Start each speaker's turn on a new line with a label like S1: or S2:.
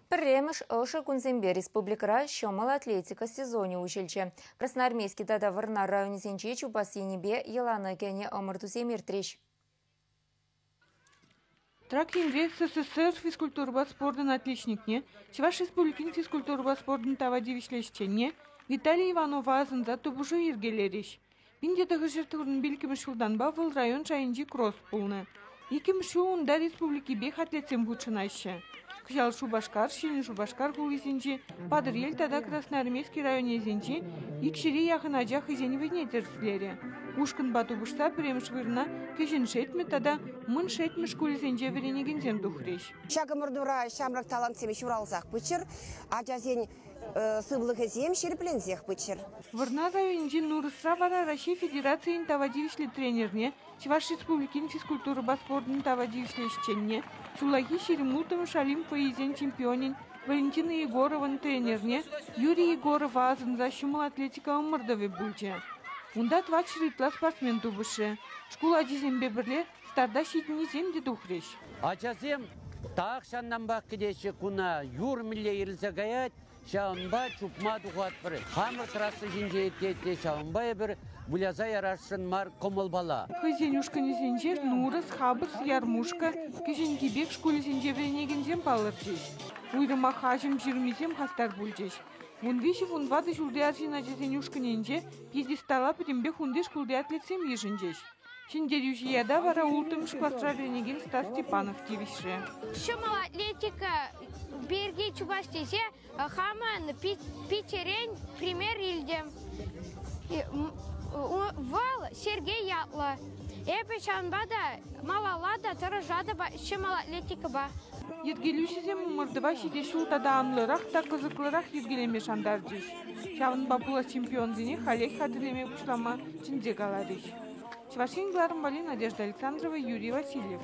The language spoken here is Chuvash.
S1: Пӗрремӗш ӑшӑ кунсемпе республикӑра ҫӑмӑл атлетика сезонӗ уҫӑлчӗ. Красноармейски тата Вӑрнар районӗсенче чупас енӗпе йӑлана кӗнӗ ӑмӑртусем иртрӗҫ.
S2: Трак енре СССР физкультурӑпа спортӑн отличникне, Чӑваш Республикин физкультурӑпа спортӑн тава тивӗҫлӗ ӗҫченне Виталий Иванова асӑнса тупӑшу йӗркелерӗҫ. Пин тӑтӑшӗ пилӗкмӗш ҫултанпа вӑл район шайӗнчи кросс пулнӑ. Иккӗмӗш ҫул унта республикипех атлетсем хутшӑнаҫҫӗ. Кӑҫал Шупашкар, Ҫӗнӗ Шупашкар хулисенчи, Патӑрьел тата Красноармейски районӗсенчи икҫӗре яхӑн ача хӑйсен вӑйне тӗрӗслерӗ. Ушкӑнпа тупӑшса пӗрремӗш вырӑна Кӗҫӗн Шетмӗ тата Мӑн Шетмӗ шкулӗсенче вӗренекенсем тухрӗҫ. Ҫак ӑмӑртура
S3: ҫамрӑк талантсем ҫуралсах пыччӑр. Ачасен сывлӑхӗсем ҫирӗпленсех пыччӑр. Вӑрнар районӗнчи
S2: Нурӑсра вара Раҫҫей Федерацийӗн тава тивӗҫлӗ тренерне, Чӑваш Республикин физкультурӑпа спортӑн тава тивӗҫлӗ ӗҫченне, ҫуллахи Ҫирӗмутӑм шалим фойисен чемпионӗн Валентина Егорован тренерне Юрий Егорова асӑнса ҫӑмӑл атлетика ӑмӑртӑвӗ пулчӗ. Унта тӑватҫӗр ытла спортсмен тупӑшрӗ. Шкул ачисемпе пӗрле Старта ҫитӗннисем те тухрӗҫ. Ачасем
S4: тахҫантанпах кӗтеҫҫӗ куна. Юр мӗнле ирӗлсе каять, ҫавӑнпа чупма тухатпӑр. Хамӑр трасса ҫинче иртет те ҫавӑнпа эпир выляса ярасшӑн мар кӑмӑлпала. Хӑйсен ушкӑнӗсенче
S2: Нурӑс, Хапӑс, Ярмушка, Кӗҫӗнки Пек шкулӗсенче вӗренекенсем палӑрчӗҫ. Уйрӑмах аҫӑм ҫырмисем хастар пулчӗҫ. Вун виҫӗ вун ватӑ ҫулти арҫын ачасен ушкӑнӗнче пьедестала пӗтӗмпех унти шкулти атлетсем йышӑнчӗҫ. Ҫӗнтерӳҫӗ ята вара улттӑмӗш класра вӗренекен Стас Степанов тивӗҫрӗ. Ҫӑмӑл
S5: атлетика пирки чупас тесе хамӑн Питӗрен пример илтӗм. Вӑл Сергей ятлӑ. Эпӗ ҫавӑнпа та малалла та тӑрӑшатӑп ҫӑмӑл атлетикӑпа. Йӗркелӳҫӗсем
S2: ӑмӑртӑва ҫитес ҫул тата анлӑрах та кӑсӑклӑрах йӗркелеме шантарчӗҫ. Ҫавӑнпа пула чемпионсене халех хатӗрлеме пуҫлама чӗнсе каларӗҫ Чӑваш Ен кӑларӑмпали Надежда Александрова, Юрий Васильев.